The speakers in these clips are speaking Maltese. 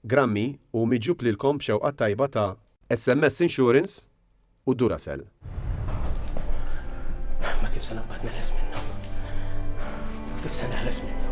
Grammy u miġjub lilkom b'xewqa t-tajba ta' SMS Insurance u Duracell. Imma kif se naqbad neħles minnu? Kif se neħles minnu?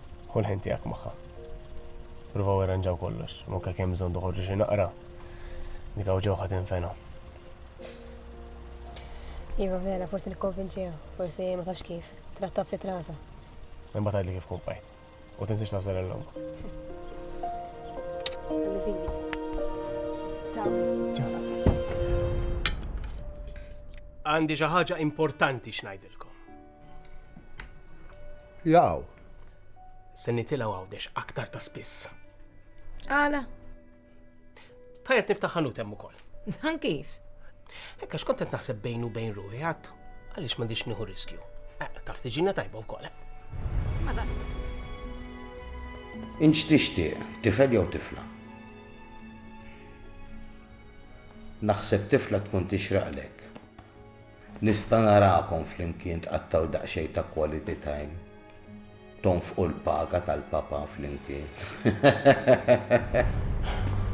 Ħu l-ħin tiegħek magħha. Provaw irranġaw kollox, anke kemm bżonn toħorġu xi naqra. Dik hawn ġewħa tinfena. Iva vera, forsi nikkonvinċiha, forsi ma tafx kif, trattab ftit rasa. Imma tgħidli kif kumpajt. U tinsiex tażel l-lum. Għandi xi ħaġa importanti x'ngħidilkom. Jaw. Se nitilgħu għawdex aktar ta' spiss. Għala? Tajjeb niftaħ ħanut hemm ukoll. Dan kif? Ekka xkont qed naħseb bejn u bejn ruħi għad għaliex m'għandix nieħu riskju. Eh, taf tiġina tajba wkoll. Eh. Inċ tixtieq, tifel jew tifla? Naħseb tifla tkun tixraqlek. Nista' narakom flimkien tqattgħu daqsxejn ta' quality time. Tonfqu l-paga tal-Papa flimkien.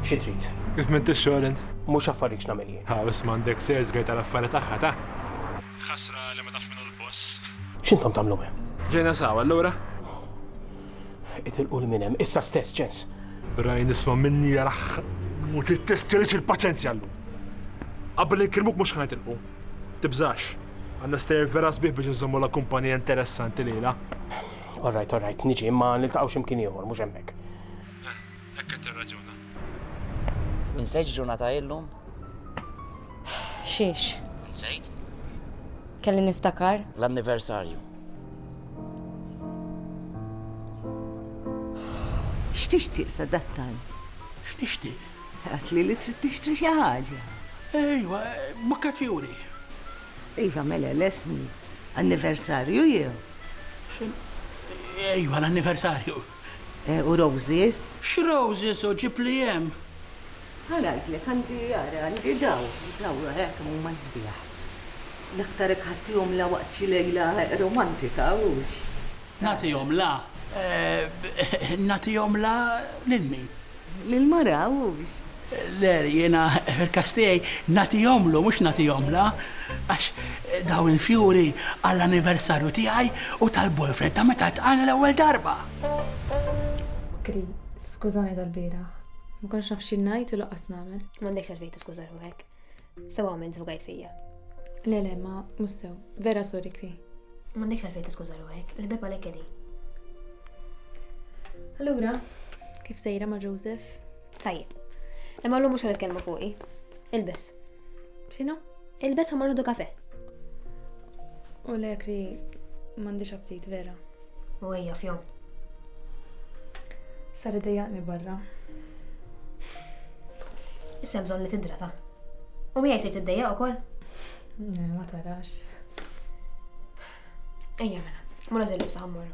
Xi trid? Kif m'intix xogħol int? Mhux affarrik x'nagħmel jien. Ħa isma' għandek sales guy tal-affari tagħha ta'. Ħasra li ma tafx min hu l-boss. X'intom tagħmlu hemm? Ġejna sawa allura? Itilqu 'l minn hemm, issa stess, Ċens! Raj nisma' minni jarah u trid testjorix il-paċenzja llum. Qabel inkellmuk mhux ħa nitilqu. Tibżax, għandna stejjer vera sbieħ biex inżommulha kumpanija interessanti lejla. All right, all right, niġi, imma niltaqgħu xi mkien ieħor, mhux hemmhekk. Hekk qed tirraġuna? Insejt x'ġurnata hi llum? Xiex? Insejt? Kelli niftakar. L-anniversarju. X'tixtieq sadattant? X'nixtieq? Għedtli li trid tixtri xi ħaġa. Ejwa, bukket fjuri. Iva, mela, lestni. Anniversarju jew? Ejwa, l-anniversarju. u roses. X'roses hu ġib li hemm? Ara ngħidlek għandi ara għandi daw, daw ara kemm huma sbieħ. L-aktar jekk ħattihom la waqt xi lejla romantika hux? Nagħtihom la nagħtihom la lil min? Lil mara hux? Le, jiena fil-każ tiegħi nagħtihomlu mhux nagħtihomlha, għax dawn il-fjuri għall-anniversarju tiegħi u tal-boyfriend ta' meta ltqajna l-ewwel darba. Kri, Skużani tal-bieraħ. Ma kontx naf xi ngħid u lanqas nagħmel. M'għandekx għalfejn tiskuża ruħek. Sew għamil żbugajt fija. Le le ma mhux sew. Vera sorry kri. M'għandekx għalfejn tiskuża ruħek, il-bib għalhekk kedi. Allura, kif sejra ma' Joseph? Tajjeb. Imma l-lum mhux għal kelmu fuqi. Ilbes. X'inhu? Ilbes ħamar kafe. U le kri m'għandix aptit vera. U ejja f'jom. Sar idejjaqni barra. Issa bżonn li tidrata. U miegħi sir tiddejjaq ukoll? Eh, ma tarax. Ejja mela, mura żillib saħammorru.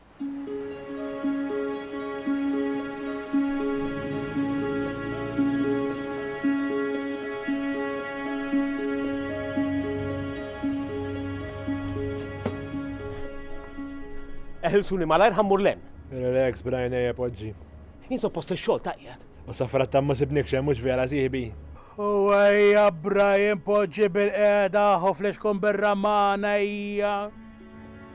Eħilsuni malajr ħammur lem. Relax, brajna ja poġġi. Jien suppost il-xogħol taqjat. U safra ta' ma sibnik xem mhux vera siħbi. U ejja Brian poġġi bil-qeda ħoflex kun birra magħna hija.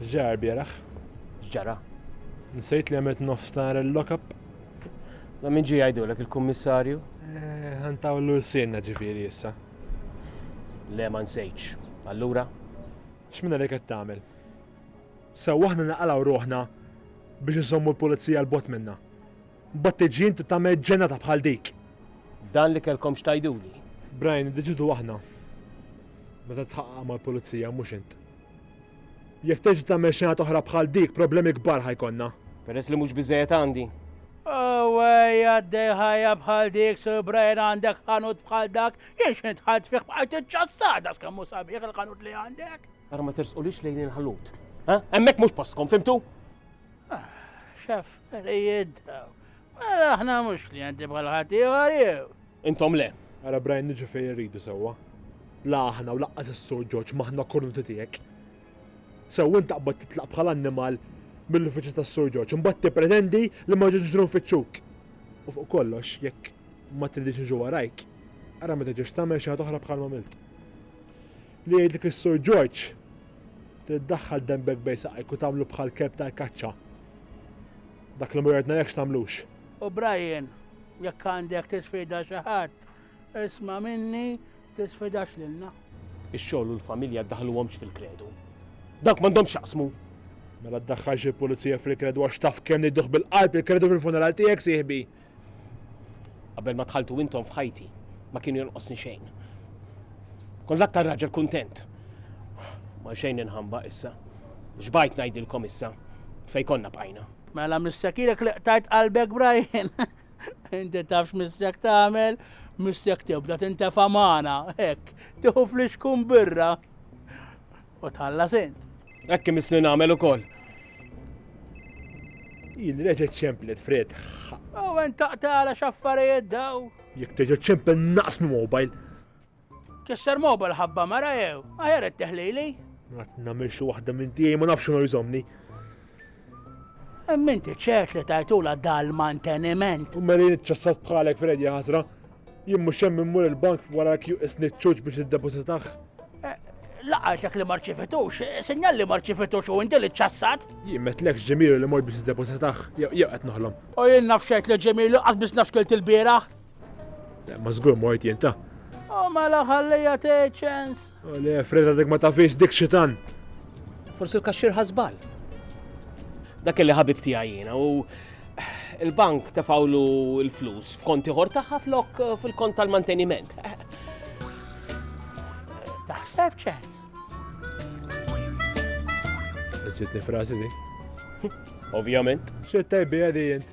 X'ġara l-bieraħ? X'ġara? Nsejt li għamilt nofs nar il-lock-up. Da min ġie jgħidulek il-kummissarju? Eh, ħantawlu s-sienna ġifieri issa. Le ma nsejtx. Allura? X'minna li qed tagħmel? Sew aħna naqalgħu ruħna biex insommu l-pulizija l-bot minna. Battiġin tagħmel ġenata bħal dik. Dan li kelkom xtajduli. Brian, diġidu aħna. Meta tħaqqa mal-pulizija mhux int. Jekk terġa' tagħmel xenat oħra bħal dik, problemi kbar ħa jkollna. Peress li mhux biżżejjed għandi. Awwejja għaddej ħajja bħal dik, Sur Brian għandek ħanut bħal dak, jien x'int dħalt fih bqajt iċċassar das kemm hu sabiħ il-ħanut li għandek. Ara ma tersqulix lejn il-ħanut. Hemmhekk mhux postkom, fimtu? Ah, xaffarijiet daw. Mela aħna mhux klijenti bħal ħadd ieħor jew. Intom le. Ara Brian niġu fejn irridu sewwa. La aħna u laqqas is-Sur Ġorġ m'aħna kornuti tiegħek. Sew int taqbad titlaq bħal annimal mill-uffiċċju tas-Sur Ġorġ imbagħad tippretendi li ma ġejtx niġru nfittxuk. U fuq kollox, jekk ma tridix niġu warajk, ara ma terġax tagħmel xi ħaġa oħra bħal m'għamilt. Li jgħidlek is-Sur Ġorġ, trid ddaħħal denbek bejn saqajk u tagħmlu bħall-kelb tal-kaċċa. Dak li ma jordnalekx tagħmlux. U Brian, Jekk għandek tisfida xi ħadd, isma' minni tisfidax lilna. Ix-xogħol u l-familja ddaħħluhomx fil-kredu. Dawk m'għandhomx x'jaqsmu. Mela ddaħħalx il-pulizija fil-kredu għax taf kemm niddugh bil-qalb il-kredu fil-funeral tiegħek sieħbi. Qabel ma dħaltu intom f'ħajti, ma kienu jonqosni xejn. Kont l-aktar raġel kuntent. Ma xejn inħamba issa. X'bajt ngħidilkom issa fejn konna bqajna. Mela missakilek li qtajt qalbek Brian. Inti tafx missek tagħmel, missek tibda tintefa' magħna, hekk, tieħu flixkun birra. U tħalla sint. Hekk imissni nagħmel ukoll. Jien reġgħet ċemplet fred. U għen taqtala x'affarijiet daw. Jekk teġa ċempel naqs minn mobile. Kisser mobile ħabba mara jew, aħjar qed teħlili. Għat namil xi waħda minn tiegħi ma nafx ma jżomni. Hemm inti ċert li tajtula dal-manteniment. U meli ċassat bħalek Freddy ħasra. Jien mhux hemm immur il-bank wara kju isni ċuċ biex iddepositax. Eh, Laqajtek li marċifitux, eh, sinjal li marċifitux u inti li ċassat? Jien metlek ġemilu li mor biex iddepositax, jew qed noħlom. U jien nafxajt li ġemilu qas biex nafxkilt il-bieraħ. Ma żgur mort jien ta'. O oh, mela ħallija tgħid ċens. O le, Freda dik ma tafix dik xitan. Forsi l-kaxxir ħasbal. Dak li ħabib tiegħi jiena u il-bank tefawlu l-flus f'konti ħor tagħha flok eh, fil-kont tal-manteniment. Taħseb ċens. Ġitni frasi di. Ovvjament. Xittaj bi għadi jint.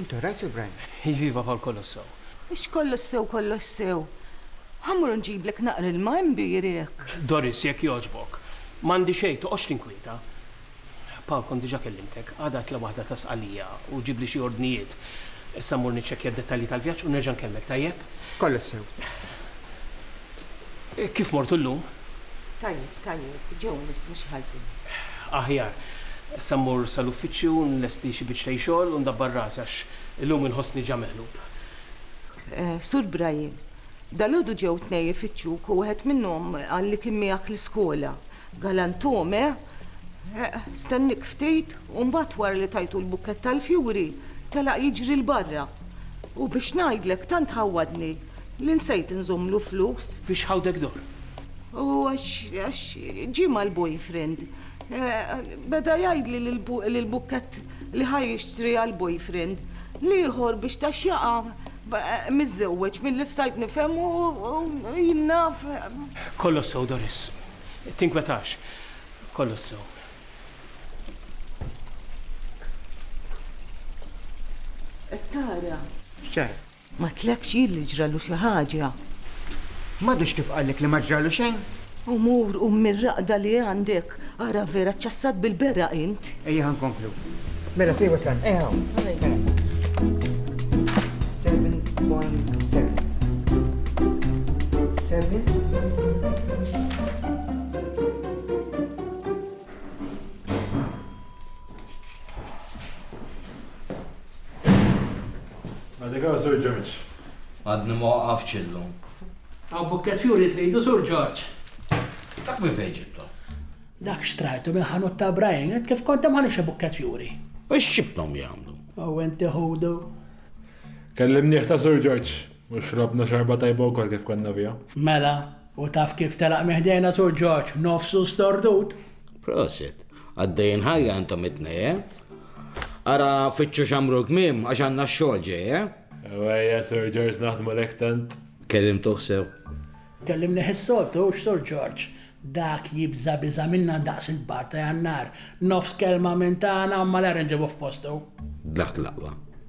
Intu rajt sur Brian? Iviva bħal kollox sew. Mhux kollox sew kollox sew. Ħa mmur nġiblek naqra ilma hemm bir hekk. Doris, jekk jogħġbok. M'għandi xejn, toqgħodx tinkwieta. Paul, kont diġà kellimtek. Għada għidtlha waħda ta' Sqallija u ġibli xi ordnijiet. Issa mmur niċċekkja d-dettalji tal-vjaġġ u nerġa' nkellmek, tajjeb? Kollox sew. Kif mortu llum? Tajjeb. Tajjeb, Jones, mhux ħażin. Aħjar. Issa mmur sal-uffiċċju u nlesti xi biċċtej xogħol u ndabbar rasi għax illum inħossni ġa meqlub. Sur Brian, dalgħodu ġew tnej ifittxuk u wieħed minnhom qal li kien miegħek l-iskola. Galanthum, eh? Stenniek ftit u mbagħad wara li tajtu l-bukkett tal-fjuri telaq jiġri 'l barra. U biex ngħidlek tant ħawwadni. Li nsejt inżommlu flus. Biex ħawdek dor. U għax ġie mal-boyfriend. Beda jgħidli li l-bukkett li ħa jixtri għall-boyfriend, l-ieħor biex ta x'jaqa' miżżewweġ milli stajt nifhem u jien naf. Kollox sew Doris. Tinkwetax. Kollox sew. Qed tara. X'ġara? Ma tlekx jien li ġralu xi ħaġa. M'għadux kif qallek li ma ġralu xejn? U mur qum mir-raqda li għandek, ara vera ċċassat bil-beraq int. Ejja ħa nkomplu. Mela fih wasalna, ejja hawn. Mela. 7.7 7 Allegaw Sur George. Għadni ma waqaftx illum. Hawn bukket fjuri tridu Sur George. Dak minn fejn ġibtu? Dak xtrajtu minn ħanut ta' Brian, qed kif kont hemm ħanix bukket fjuri. U x'ġibthom jagħmlu? U inti ħudu. Kellimnieh ta' Sur George u xrobna xorba tajba wkoll kif konna fiha. Mela, u taf kif telaq minn ħdejna Sur George, nofsu stordut. Prosit. Għaddejn ħajja intom it-tnej, eh? Ara fitxu xamru kmim għax għanna xogħol ġej, eh? Ewejja, Sir George naħdmu lek tant. Kellim tuħsew. Kellim neħissotu, Sir George. Dak jibza biza minna daqs il-bar ta' jannar. Nofs kelma minn tagħna u malar nġibu f'postu. Dak laqwa.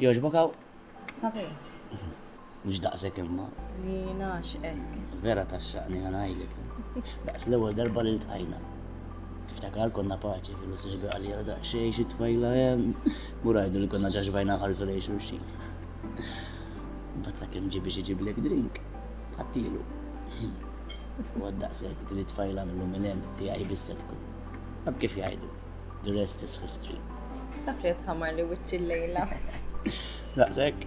Joġbok għaw? Sabi. Mux daqsek imma. Li naxqek. Vera taxxaqni għanajlek. Daqs l-ewel darba li l-tajna. Tiftakar konna paċi fil sihbi għalira daqsxejn xi tfajla hemm. Murajdu li konna ġaġbajna ħarsu lejn xulxin. Mbagħad sakemm ġi biex iġiblek drink, ħattilu. U għaddaqsek din it-tfajla mill minn hemm tiegħi bissa tkun. Għad kif jgħidu, the rest is history. Taf li tħamar li wiċċi l-lejla. Daqsek.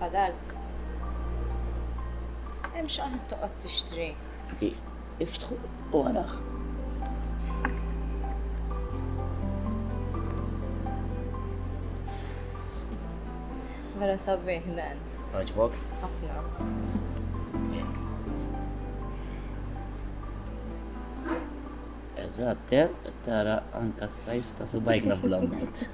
Fadal. Hemm xi qanad toqgħod tixtri. Di, iftħu u araħ. Vera sabiħ dan. Għaġbok? Ħafna. Eżatt, eh? tara anka s-sajs ta' subajk naf bl-ammont.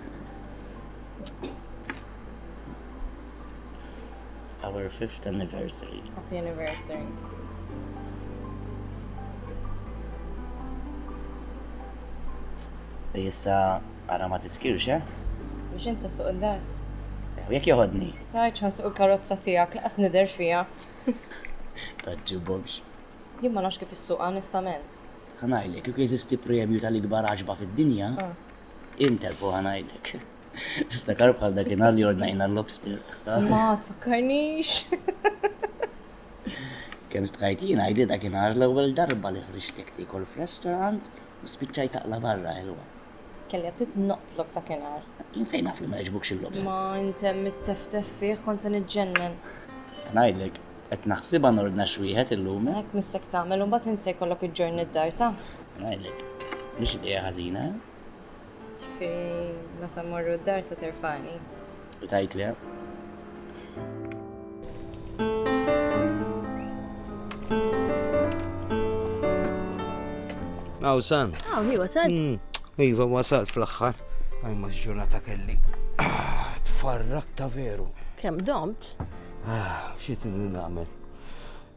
Our fifth anniversary. Happy anniversary. Issa għara ma tiskirx, eh? Biex insa suq id-dar. Eh, jek joħodni. Tajċ għan suq il-karozza tijak, laqas nider fija. Taġġibomx. Jien ma nafx kif is-suq onestament. Ħanajlek, kif jeżisti premju tal-ikbar għaġba fid-dinja, ah. Interpo ħanajlek. Niftakar bħal dakinhar li ordnajna l-lobster. Ma tfakkarnix. Kemm stħajt jien għajdi dakinhar l-ewwel darba li ħriġtek tiekol f'restaurant u spiċċajt taqla barra ħelwa. Kelli għabtit noqtlok dakinhar. Jien fejn naf li ma jġbukx il-lobsters. Ma intem it-teftef fih kont se niġġennen. Ngħidlek, qed naħsibha nordna xwieħed illum. Hekk missek tagħmel u mbagħad int se jkollok iġġorni d-dar ta. Ngħidlek, mhix idea ħażina. Ġifi, la sa morru d-dar sa terfani. U tajt li, Aw, san. Aw, hi wasal. Hmm, iva, wasal fl-axħar. Għaj ma ġurnata kelli. Ah, tfarrak ta' veru. Kem domt? Ah, xie t-nagħmel?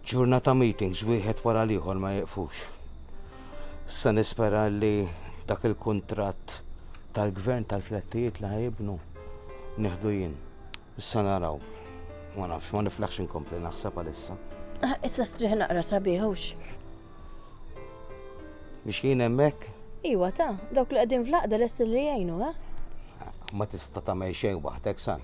Ġurnata meetings, wieħed wara liħor ma jieqfux. Issa nispera li dak il-kuntratt tal-gvern tal-flettijiet li ħajibnu nieħdu jien. Issa naraw. Ma nafx, ma niflaħx inkompli naħseb għalissa. Ah, issa striħ naqra sabiħux. Biex jien hemmhekk? Iwa ta, dawk li qegħdin fl-aqda lesti li jgħinu, ha? Ma tista' tagħmel xejn waħdek san.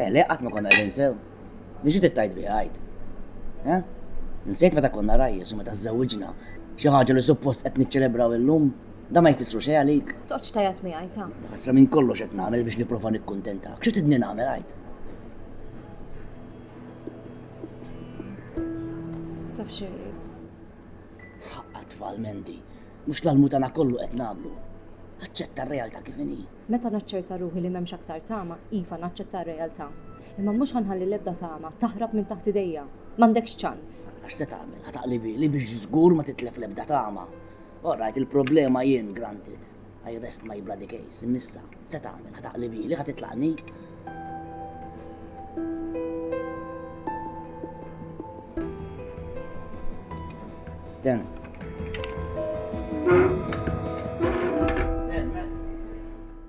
Eh, le, qatt ma konna qegħdin sew. Li xi tittajt biha għajt. Eh? Nsejt meta konna rajjes u meta żżewġna. Xi ħaġa li suppost qed niċċelebraw illum, da ma jfissru xejn għalik. Toqgħodx tajat mi għajt ta. Ħasra minn kollox qed nagħmel biex nipprova nikkuntentak. Xi tidni nagħmel għajt? Taf xi. Ħaqqa tfal mendi. Mhux l-almutana kollu qed nagħmlu. Aċċetta r-realtà kif inhi. Meta naċċerta ruħi li m'hemmx aktar tama, iva, naċċetta r-realtà. Imma mhux ħa nħalli l-ebda tama taħrab minn taħt idejja. M'għandekx ċans! Għax se tagħmel? Ħa taqli bieli biex żgur ma titlef l-ebda tama? Orrajt, il-problema jien, granted. I rest my bloody case. Imm'issa, se tagħmel? Ħa taqli bieli? Ħa titlaqni? Sten.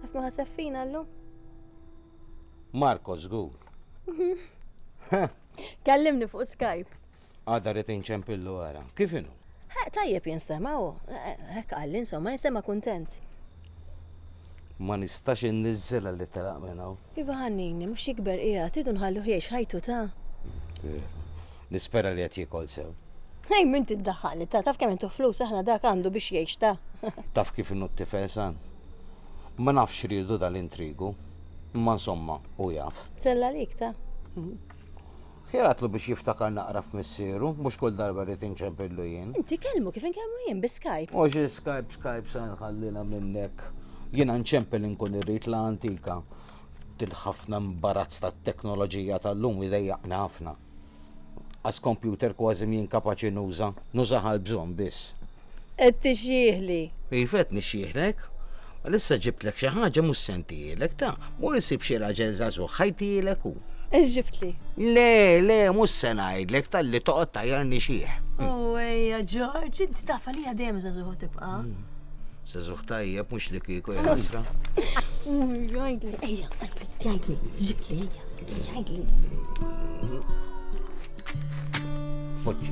Għaf ma ħasef fina l-lum? Marko, zgur. Kallimni fuq Skype. Għada rrit inċempillu għara. Kif inu? Ħaq tajjeb jinstema u, hekk qalli insomma, jinstema kuntent. Ma nistax inniżżela li telaq minn hawn. Iva ħannini, mhux jikber qiegħed, tidu nħallu ħiex ħajtu ta'. Nispera li qed jikol sew. Hej, minn tiddaħħali ta' taf kemm intu flus aħna dak għandu biex jgħix ta'. Taf kif innu t-tifel san? Ma nafx riedu dal-intrigu, imma insomma u jaf. Tella lik ta'. Mhm. Ħjatlu biex jiftakar naqra f'missieru, mhux kull darba rrid inċempillu jien. Inti kellmu kif inkellmu jien bi Skype. Mhux is-Skype Skype se nħallilha minnek. Jiena nċempel inkun irrid la antika. Dil-ħafna mbarazz tat-teknoloġija tal-lum idejjaqni ħafna. As kompjuter kważi m'jien kapaċi nuża, nużah għall-bżonn biss. Qed tixjiħli. Iva qed nixjiħlek. Għal issa ġibtlek xi ħaġa mhux se ntihielek ta, mur isib xi raġel żagħżugħ ħa jtihielek hu. Ex ġibtli? Le, le, mhux se ngħidlek talli toqgħod tajjar nixjieħ. Oh, ejja Ġorġ, inti taf għalija dejjem żagħżugħ tibqa'. Hmm. Żagħżugħ tajjeb mhux li kieku hija ħasra. Jgħidli, ejja, jgħidli, ġibtli ejja, jgħidli. Foġġi.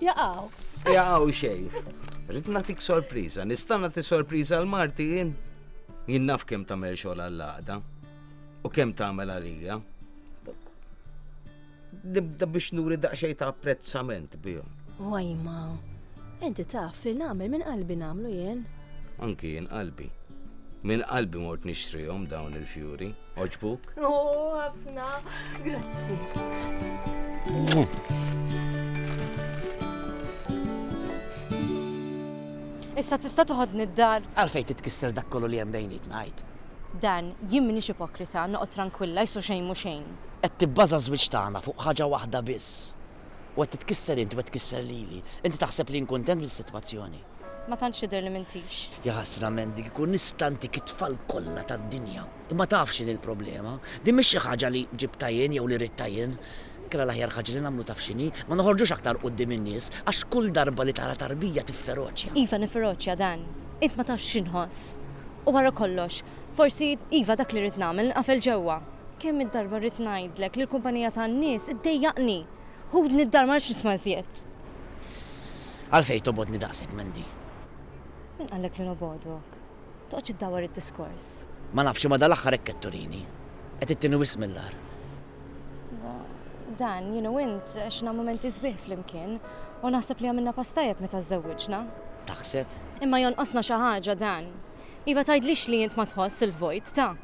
Jaqaw. Jaqaw xejn. Rrid nagħtik sorpriża, nista' nagħti sorpriża l marti jien. Jien naf kemm tagħmel xogħol għall-għaqda u kemm tagħmel għalija. Nibda biex nuri daqsxejn ta' apprezzament bihom. Wajma, inti taf li nagħmel minn qalbi nagħmlu jien. Anki jien qalbi. Minn qalbi mort nixtrihom dawn il-fjuri. Oġbuk? Oh, ħafna. Grazzi. Issa tista' toħodni d-dar. Għalfejn titkisser dak kollu li hemm bejniet ngħid. Dan, jien m'iniex ipokrita, noqgħod trankwilla, jsu xejn mhu xejn. Qed tibbaża ż-żwieġ tagħna fuq ħaġa waħda biss. u qed titkisser inti u qed tkisser lili. Inti taħseb li jien kuntent bis-sitwazzjoni? Ma tantx tidher li m'intix. Ja ħasra men, dik ikun nista' ntik it-tfal kollha tad-dinja. Imma taf x'inhi l-problema? Din mhix xi ħaġa li ġibtha jien jew li ridtha jien. Inkella l-aħjar ħaġa li nagħmlu taf x'inhi? Ma noħorġux aktar quddiem in-nies għax kull darba li tara tarbija tifferoċja. Iva nifferoċja Dan, int ma tafx x'inħoss. U wara kollox, Forsi, iva dak li rrid nagħmel, nqafel ġewwa. Kemm id-darba rrid ngħidlek li l-kumpanija tan-nies iddejjaqni! Ħudni d-dar ma rridx nisma' iżjed. Għalfejn tobgħodni daqshekk, Mandy? Min qallek li nobgħodok? Toqgħodx iddawwar id-diskors. Ma nafx imma dal-aħħar hekk qed turini. Qed ittieni wisq mill-agħar. Dan, jien u int għexna mumenti sbieħ flimkien u naħseb li għamilna pass tajjeb meta żżewwiġna. Taħseb? Imma jonqosna xi ħaġa, Dan. Iva tgħidlix li int ma tħoss il-vojt ta'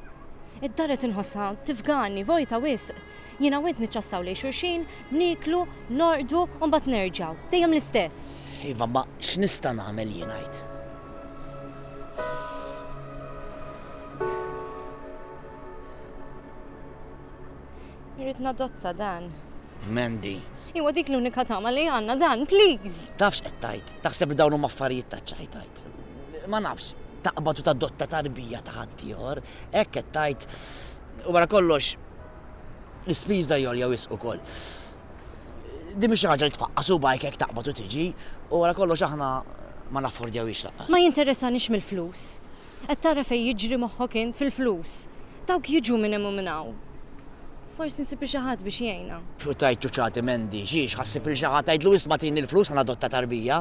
Id-dar qed inħossha tifgani, vojta wisq. Jiena u int niċċassaw lejn xulxin, nieklu, norqdu u mbagħad nerġgħu. Dejjem l-istess. Iva imma x'nista' nagħmel jien għid? Irrid nadotta dan. Mandy. Iwa dik l-unika tama li għandna dan, please! Tafx qed tgħid? Taħseb li dawn huma affarijiet taċ-ċajt tgħid? ma nafx, taqbad u tadotta tarbija ta' ħaddieħor, hekk qed tgħid, u wara kollox l-ispiża hi għolja wisq ukoll. Din mhix xi ħaġa li tfaqqas subgħajk hekk taqbad u tiġi, u wara kollox aħna ma naffordjawhiex lanqas. Ma jinteressanix mill-flus. Qed tara fejn jiġri moħħok int fil-flus. Dawk jiġu minn hemm u minn hawn. Forsi nsibu xi ħadd biex jgħinha. U tgħid ċuċati Mandy, xiex, ħa ssib lil xi ħadd tgħidlu isma' tini l-flus ħa nadotta tarbija?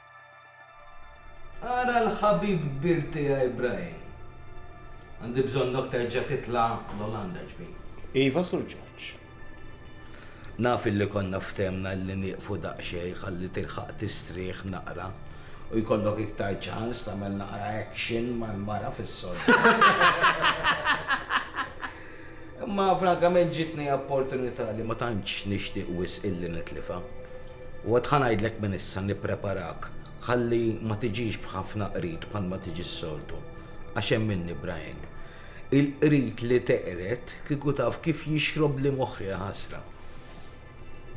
Ara l-ħabib kbir tiegħi Brian. Għandi bżonnok terġa' titla' l-Olanda, ġbir. Iva, Sur Ġorġ. Naf illi konna ftehmna li nieqfu daqsxejn ħalli tilħaq tistrieħ naqra u jkollok iktar ċans tagħmel naqra action mal-mara fis-sodda. Imma frankament ġietni opportunità li ma tantx nixtieq wisq illi nitlifha. U għad ħa ngħidlek minn issa nippreparak ħalli ma tiġix b'ħafna qrid bħalma tiġi s-soltu. Għax hemm minni, Brian. Il-qrid li teqred kieku taf kif jixrobli moħħi jaħasra.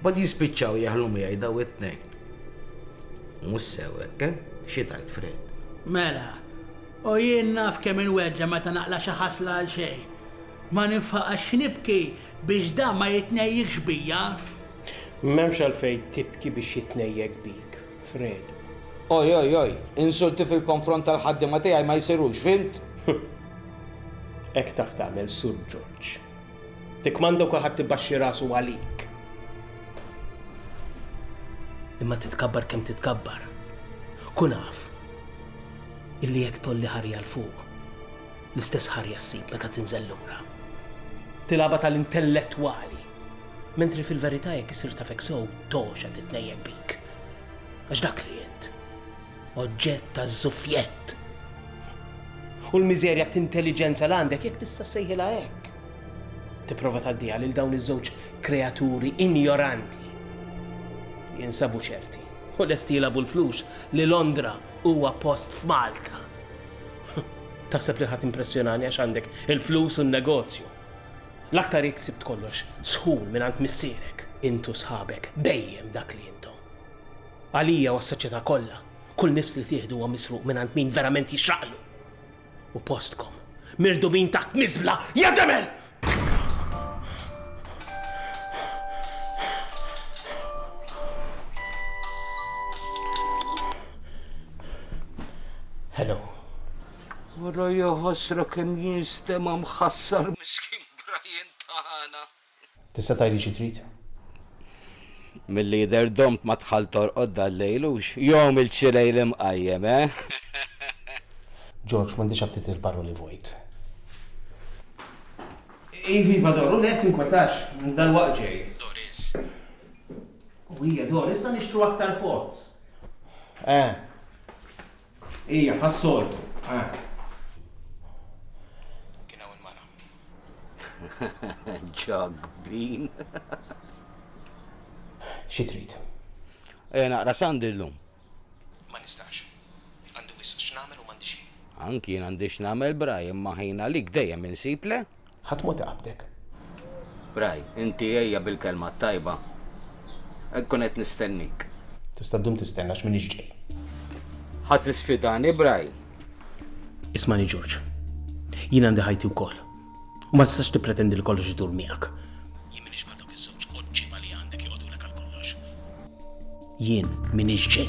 Mbagħad jispiċċaw jeħlu miegħi daw it-tnejn. Mhux sew hekk, eh? Xi tgħid, Fred? Mela! O jien naf kemm inweġġa' meta naqla' xi ħasla għal xejn. Ma ninfaqax nibki biex dan ma jitnejjikx bija. M'hemmx għalfejn tibki biex jitnejjek bik, Fredu. Oj, oj, oj, insulti fil-konfront tal-ħaddiema tiegħi ma jsirux, fhimt? Hekk taf tagħmel, Sur Ġorġ. Tikkmanda u kulħadd ibaxxi rasu għalik. Imma titkabbar kemm titkabbar, kun af. illi jekk tgħolli ħarja 'l fuq, l-istess ħarja ssib meta tinżel lura. Tilgħabha tal-intellettwali, mentri fil-verità jekk issir tafek sew togħxa titnejjek bik. Għax dak li int, oġġett ta' żuffjett. U l-miżerja t'intelliġenza l għandek jekk tista' sejħilha hekk. Tipprova tgħaddiha lil dawn iż-żewġ kreaturi injoranti jinsabu ċerti u lesti jilabu l-flus li Londra Huwa post f'Malta. Taħseb li ħa timpressjonani għax għandek il-flus u n-negozju. L-aktar jekk sibt kollox sħun mingħand missierek. Int u sħabek dejjem dak li intom. Għalija u għas-soċjetà kollha, kull nifs li tieħdu huwa misruq mingħand min verament jixraqlu. U postkom, mirdubin taħt miżbla, ja demel! Hello. Wara jahasra kemm jinstema mħassar miskin Brian tagħna. Tista' tgħidli xi trid? Milli jidher domt ma dħalt torqod dal-lejl hux jom il-ċilejl imqajjem, eh? George, M'għandix aptit għal paroli vojt. Iva, iva, Dor, u le tinkwetax, dalwaqt ġej. Doris. U hija, Dor, issa nixtru aktar pots. Eh. Hija, bħas-soltu, eh. Kien hawn il-mara. Jug bean. Xi trid? Ejja naqra Sandi llum. Ma nistax. Għandi wisq x'nagħmel u m'għandix ħin. Anki jien għandi x'nagħmel Bry imma ħin għalik dejjem insib le? Ħadd mhu taqabdek. Bry, inti ejja bil-kelma t-tajba. Inkun qed nistennik. Tista' ddum tistenna għax m'iniex ġej. Ħadd isfidani Bry? Ismani Ġorġ, jien għandi ħajti wkoll. U ma tistax tippretendi li kollox idur miegħek. Jien minix ma dawk iż-żewġ oġġiba li għandek joqgħodulek għal kollox. Jien minix ġej.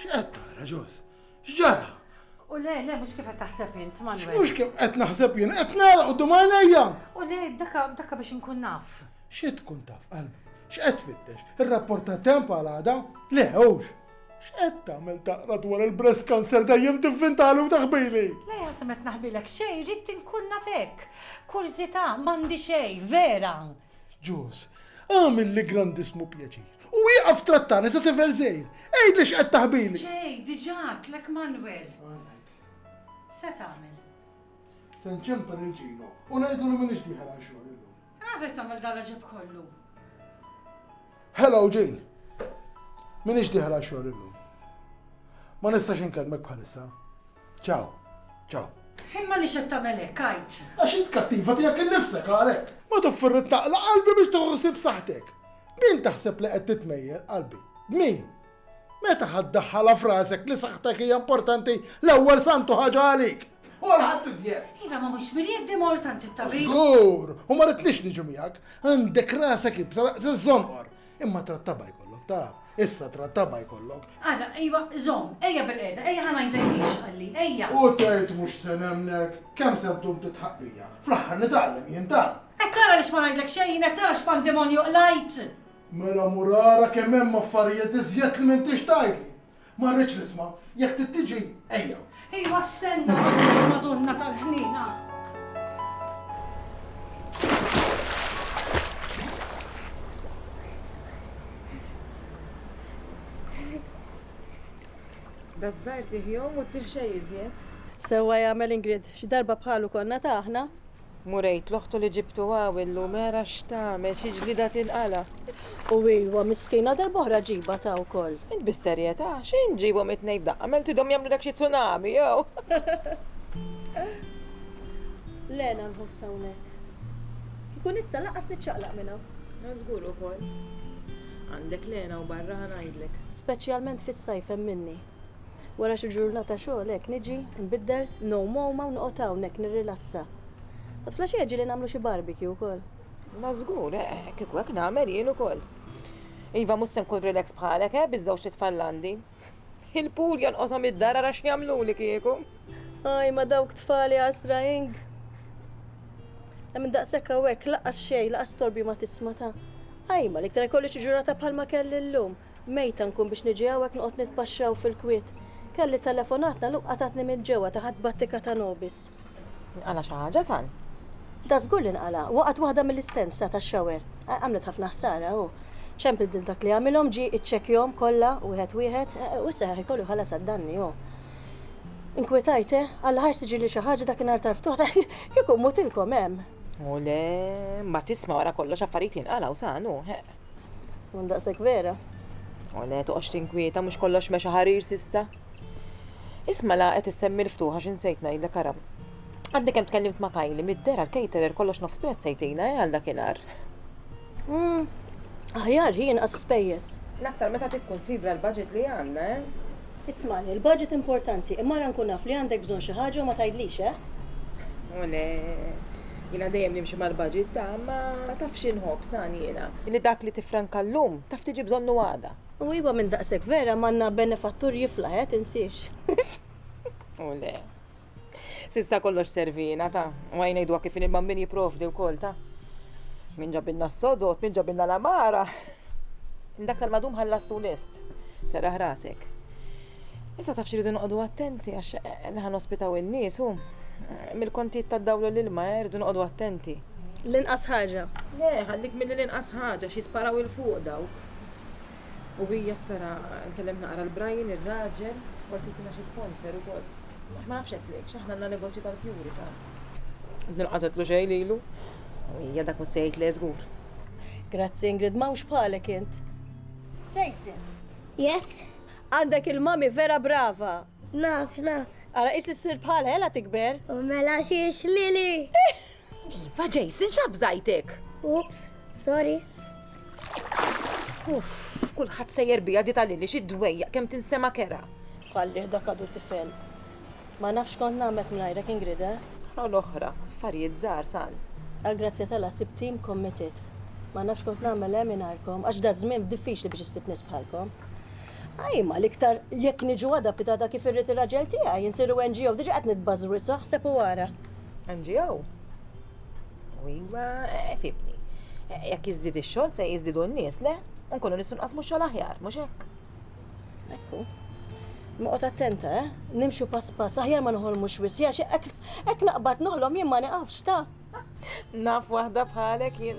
X'qed tara ġos? X'ġara? U le, le, mhux kif qed taħseb int, Manuel. Mhux kif qed naħseb jien, qed nara u għajnejja. U le, daka, daka biex nkun naf. Xi tkun taf qalbi? X'qed tfittex? Ir-rapport ta' temp għal għada? Le, hux. X'qed tagħmel taqra dwar il-breast cancer dejjem tivvintalu taħbili? Le, ħasem qed naħbilek xejn, rrid inkun nafek. Kurzita, m'għandi xejn, vera. Ġos, għamilli grandissmu pjaċir. U wieqaf trattani ta' tifel żgħir. Għidli x'qed taħbili. Ġej, diġà tlek Manuel. Se tagħmel? Se nċempel il-ġino u ngħidu li m'iniex dieħel għal xogħol illum. Għavet tagħmel dala ġeb kollu. Hello, Jane. M'iniex dieħel għal xogħol illum. Ma nistax inkellmek bħalissa. Ciao. Ciao. Imma għaliex qed tagħmel hekk, għid? Għax int kattiva tiegħek innifsek għalhekk. Ma toffri li taqla' qalbi biex tieħu ħsieb saħħtek. B'min taħseb li qed titmejjel, qalbi? B'min? Meta ħa ddaħħalha f'rasek li saħħtek hija importanti l-ewwel santu ħaġa għalik? U għal ħadd iżjed. Iva ma mhux mirjed di mort għand it-tabib. Żgur, u ma ridniex niġu miegħek. Għandek rasek ibsa daqs iż-żonqor. Imma trattaba jkollok, taf. Issa trattaba jkollok. Ara, ejwa, zom, ejja bil-qeda, ejja ħana jintejfix għalli, ejja. U tgħid mhux se nemnek, kemm se ddum titħaqqija. Fl-aħħar nitgħallem jien dan. Qed tara li x'ma ngħidlek xejn, qed tara x'pandemonju qlajt. Mela mur ara kemm hemm affarijiet iżjed li m'intix tgħidli. Ma rridx nisma'. Jekk trid tiġi, ejja. Ejwa stenna hawnhekk Madonna tal-Ħniena. Daż-żgħir tih jgħum u tih xejn iżjed. Sewwa jagħmel Ingrid, xi darba bħalu konna ta aħna. Murejt l-oħtu li ġibtu hawn illum ara x'tagħmel, xi ġlieda tinqala'. U ilwa miskina darb'oħra ġibha ta' wkoll. Int bis-serjetà, xejn ġibhom it-tnejn f'daqqa, għamilthidhom jagħmlulek xi tsunami jew. Lena nħoss hawnhekk. Kieku nista' lanqas niċċaqlaq minn hawn. Żgur ukoll. Għandek Lena u barra ħa ngħidlek. Speċjalment fis-sajf hemm minni. Wara xi ġurnata xogħol hekk niġi, nbiddel, ngħum għoma u noqgħod hawn hekk nirrilassa. Għad flaxija ġieli nagħmlu xi barbecue wkoll. Ma żgur, eh, kieku hekk nagħmel jien ukoll. Iva mhux se nkun relax bħalek, eh, biż-żewġ titfal l-għandi. Il-pool jonqoshom id-dar ara x'jagħmluli kieku. Aj, ma dawk tfali għasra ing. Hemm daqshekk hawnhekk laqas xejn, laqas torbi ma tisma' ta' Ajma, l-iktar ikolli xi ġurnata bħalma kelli llum. Mejta nkun biex niġi hawn hekk noqgħod nitpaxxaw fil-kwiet. Kelli telefonat nagħluq qatgħatni minn ġewwa taħat battika ta' nobis. Inqala' xi ħaġa, San? Dażgur li nqala'. Waqgħet waħda mill-istents ta' tax-shower. Għamlet ħafna ħsara, hu. Ċempil lil dak li għamilhom, ġie iċċekkjhom kollha wieħed wieħed, u issa ħa jkollu jħallas għad-danni hu. Inkwetajt, eh? Alla ħarx tiġili xi ħaġa dakinhar tal-ftuħ ta' kieku mmutilkom hemm! O le, mbagħad isma' wara kollox affarijiet jinqalgħu, San, hu. Mun daqshekk vera. O le, toqgħodx tinkwieta mhux kollox mexa ħarir sissa. Isma' la qed issemmi l-ftuħa xi nsejt ngħidlek ara. Għadni kemm tkellimt ma' Kajli mid-dera l-caterer kollox nofs prezz se jtina eh għal dakinhar. Hmm, aħjar hi inqas spejjeż. L-aktar meta tikkunsidra l-budget li għandna eh. Ismagħni, il-budget importanti, imma ara nkun naf li għandek bżonn xi ħaġa u ma tgħidlix, eh? O le, jiena dejjem nimxi mal-budget ta', ma tafx xi nħobb, sani jiena. Li dak li tiffranka llum, taf tiġi bżonnu għada. O iva, minn daqshekk vera m'għandna benefattur jiflaħ, eh, tinsiex. O le. Sista kollox servina ta' u għajnejdu kif il min jiprovdi wkoll ta' min ġabilna s-sodot, min ġabilna l-amara. Dak tal-madum ħallastu lest, serraħ rasek. Issa taf xiridu noqogħdu attenti għax eh, li ħan ospitaw in-nies u eh, mill-kontijiet tad-dawlu l-ilma eh, rridu noqogħdu attenti. L-inqas ħaġa. Le, ħallik mill-inqas ħaġa xi sparaw il-fuq daw. U hija s-sara nkellem naqra l Brian ir-raġel forsi jtina xi sponsor ukoll. Aħna nafx hekk lejx, aħna għandna negozju tal-fjuri sara. Din qażet l-uġegħ lilu. U hija dak mhux se jgħid le żgur. Grazzi Ingrid, m'hawnx bħalek int. Jason. Yes? Għandek il-mommy vera brava. Naf, naf. Ara qis li ssir bħalha ela tikber. U mela xiex Lili. Iva, Jason, xaf zajtek! Ups, sorry. Uff, kulħadd sejjer bija di tal-lili xi dwejjaq kemm tinstema kera. Fallih dak għadu tifel. Ma nafx kont nagħmel mingħajrek Ingrid, eh? Għal l-oħra, affarijiet żgħar sal. Għall-grazzja tala sib tim committed. Ma nafx kont nagħmel eh mingħajrkom għax da żmien diffiċli biex issib nies bħalkom. Ajma l-iktar jekk niġu għada pitada kif irrid ir-raġel tiegħi, insiru NGO diġa qed nitbażru issa ħseb u wara. NGO. U iwa, eh, fibni. Eh, jekk jizdid ix-xogħol se jiżdidu n-nies, le? Unkunu nistgħu nqasmu xogħol aħjar, mhux hekk? Ekku. Noqgħod attenta, eh? Nimxu pass pass, aħjar ma noħolmux wisja, xi hekk naqbad noħlom jien ma niqafx ta'. Naf waħda bħalek jien.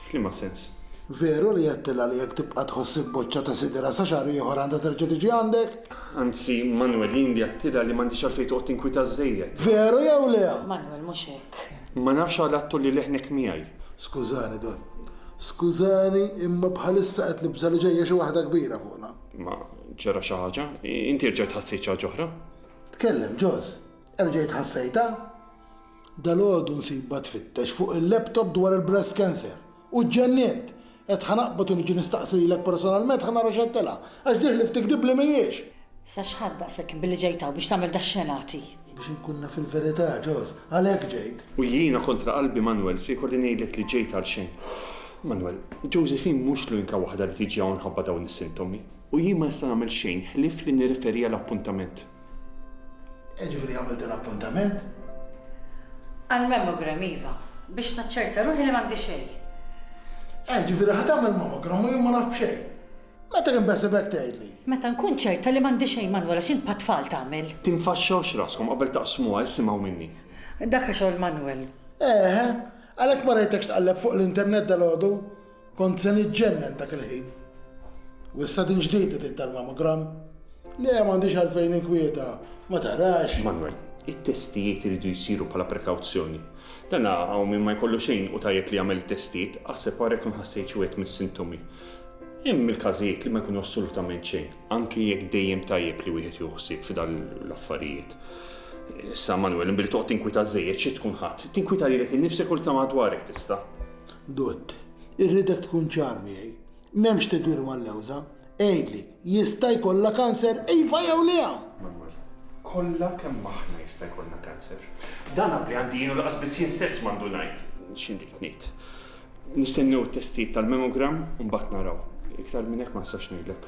F'liema sens? Veru li għedtilha li jekk tibqa' tħoss ibbocciata sidirha sa xahar ieħor għandha terġa' tiġi għandek? Anzi, Manwel, jien li għedtilha li m'għandhiex għalfejn toqgħod tinkwita żżejjed. Veru jew le? Manwel, mhux hekk. Ma nafx għala qed tgħolli leħnek miegħi. Skużani, Dott. Skużani, imma bħalissa qed nibża' li ġejja xi waħda kbira fuqna. Ma ġara xi ħaġa? Inti erġajt ħassejt xi ħaġa oħra? Tkellem, Ġoż. Erġajt ħassejtha? Dalgħodu nsibha tfittex fuq il-laptop dwar il-breast cancer u ġġennint! Għedt ħa naqbad u niġi nistaqsi lilek personalment ħa nara x'qed tilgħab, għax dieħli f'tikdib li mhijiex! Sa x'ħadd daqshekk billi ġejt hawn biex tagħmel dax-xenati? Biex inkun naf il-verità, Ġoż. Għalhekk ġejt. U jiena kontra qalbi, Manwel, se jkolli ngħidlek li ġejt għalxejn. Manwel, Josephine mhux l-unika waħda li tiġi hawn mħabba dawn is-sintomi. U jien ma nista' nagħmel xejn ħlief li nirreferi għal appuntament. E ġifieri għamilt l-appuntament? Għall-mammogram iva, biex naċċerta ruħi li m'għandi xejn. E ġifieri ħa tagħmel mammogram u jien ma naf b'xejn. Meta kien beħseb hekk tgħidli? Meta nkun ċerta li m'għandi xejn Manwel għax int bħat-tfal tagħmel. Tinfaxxawx raskom qabel taqsmuha isimgħu minni. Dak xogħol Manwel. Eħe, għalhekk ma rajtekx tqalleb fuq l-internet dalgħodu? Kont se niġġennen dak il-ħin. U issa din ġdida din tal-mammogram? Le, m'għandix għalfejn inkwieta, ma tarax. Manwel, it-testijiet iridu jsiru bħala prekawzjoni. Dan hawn min ma jkollu xejn u tajjeb li jagħmel it-testijiet, aħseb ara jekk ma nħassejtx wieħed mis-sintomi. Hemm il-każijiet li ma jkunu assolutament xejn, anke jekk dejjem tajjeb li wieħed jieħu ħsieb f'dan l-affarijiet. Issa Manwel, imbili toqgħod tinkwieta żejjed xi tkun ħadd. Tinkwieta lilek innifsek u lil ta' madwarek tista'. Dott. Irridek tkun ċar miegħi. M'hemmx tidwir mal-lewża. Għidli, jista' jkollha kanser iva jew le? Manwel. Kollha kemm aħna jista' jkollna kanser. Dan għaqli għandi jien u lanqas biss jien stess m'għandu ngħid. X'inrid ngħid. Nistennew it-testijiet tal-mammogram u mbagħad naraw. Iktar minn hekk ma nistax ngħidlek.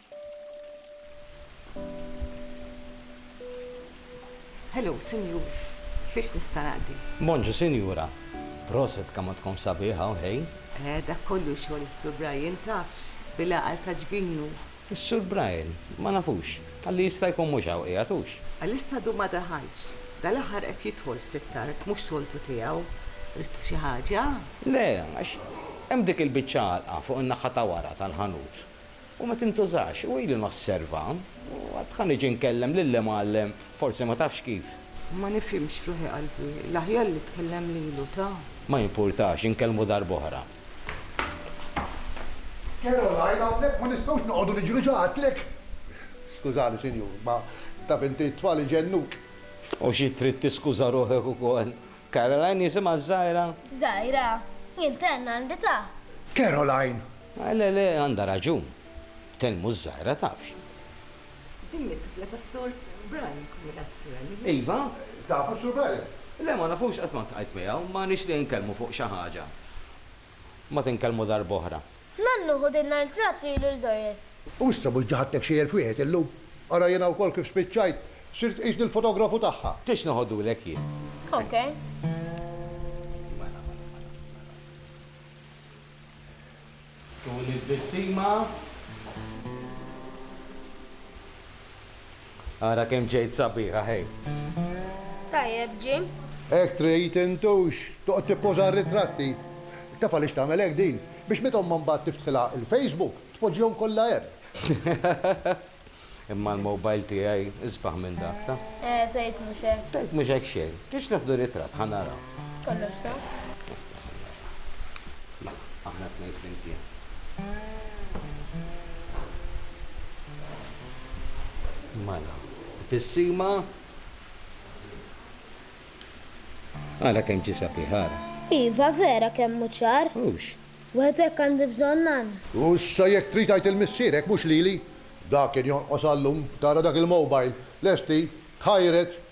Hello, sinjur. Fiex nista' naqdi? Bonġu, sinjura. Proset, kamotkom sabiħa u ħej. Eh, dak kollu xogħol is-Sur Brian, tafx, bil-għaqal ta' ġbin hu. Is-Sur Brian? Ma nafux. Għalli jista' jkun mhux hawn qiegħed, hux? Għalissa għadu ma daħalx. Dal-aħħar qed jidħol ftit tard, mhux soltu tiegħu. Ridtu xi ħaġa? Le, għax hemm dik il-biċċa għalqa fuq in-naħa ta' wara tal-ħanut. u ma tintużax, u ili nosserva, u għad dħa niġi nkellem lill-Imgħallem, forsi ma tafx kif. Ma nifhimx ruħi qalbi, l-aħjar li tkellem lilu, ta? Ma jimpurtax, inkellmu darb'oħra. Caroline, hawnhekk ma nistgħux noqogħdu niġru ġo għatlek. Skużani, sinjur, ma taf inti t-tfal iġennuk. U xi trid tiskuża ruħek ukoll? Caroline jisimha ż-żgħira? Żgħira? Jien tenn għandi ta. Caroline! Ah le le, għandha raġun. Tenn mhux żgħira, tafx. Din hi t-tifla tas-Sur Brian, kombinazzjoni. Iva? Tafu s-Sur Brian? Le, ma nafux, qatt ma ltqajt miegħu. M'għanix li nkellmu fuq xi ħaġa. ma tinkellmu darb'oħra. Nannu ħu din l-art rat li ilu l-Doris. U issa mhux ġaħadtek xi elf wieħed illum? Ara jiena wkoll kif spiċċajt, sirt tqisni l-fotografu tagħha. Tridx noħodulek jien? Ok. Tul it-tbissima. Ara kemm ġejt sabiħa ħej! Tajjeb, Jim. Hekk trid, intux! Toqgħod tippoża r-ritratti? Taf għaliex tagħmel hekk din? Biex meta ommha mbagħad tiftħilha l-Facebook, tpoġġihom kollha hemm. Imma l-mobile tiegħi isbaħ minn dak, taf. Eh, tgħid mhux hekk! Tgħid mhux hekk xejn! Tridx neħdu ritratt, ħa naraw. Kollox sew? Aħna t-tnejn flimkien. Mela, tbissima. Ara kemm ġie sabiħ, ara. Iva, vera kemm hu ċar. Hux. Wieħed hekk għandi bżonn nan. U issa jekk trid għid il-missierek mhux lili. Dak kien jonqos għal-lum, tara dak il-mobile, lesti, tħajred,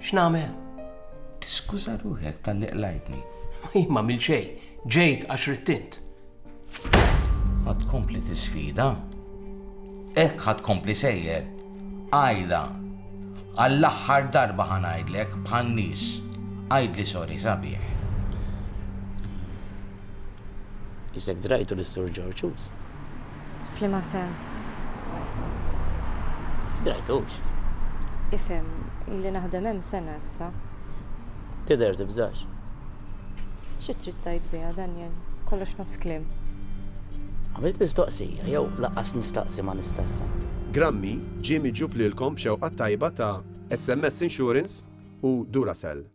X'nagħmel? Tiskuża ruħek tal-li qlajtni. Ma mil xej, ġejt għax rittint. Ħad kompli tisfida? Ek ħad kompli sejjer? Ajla, għall-aħħar darba ħanajdlek bħal nies, għajdli sori sabiħ. Isek drajtu l-Sur George F'liema sens? M'drajtux. Ifhem, ili naħdem hemm sena issa. Tidher tibżax. Xi trid tgħid biha, Daniel? Kollox nofs kliem. Għamilt mistoqsija, jew lanqas nistaqsi ma nista' issa. Grammy ġie miġjub lilkom b'xewqa t-tajba ta' SMS Insurance u Duracell.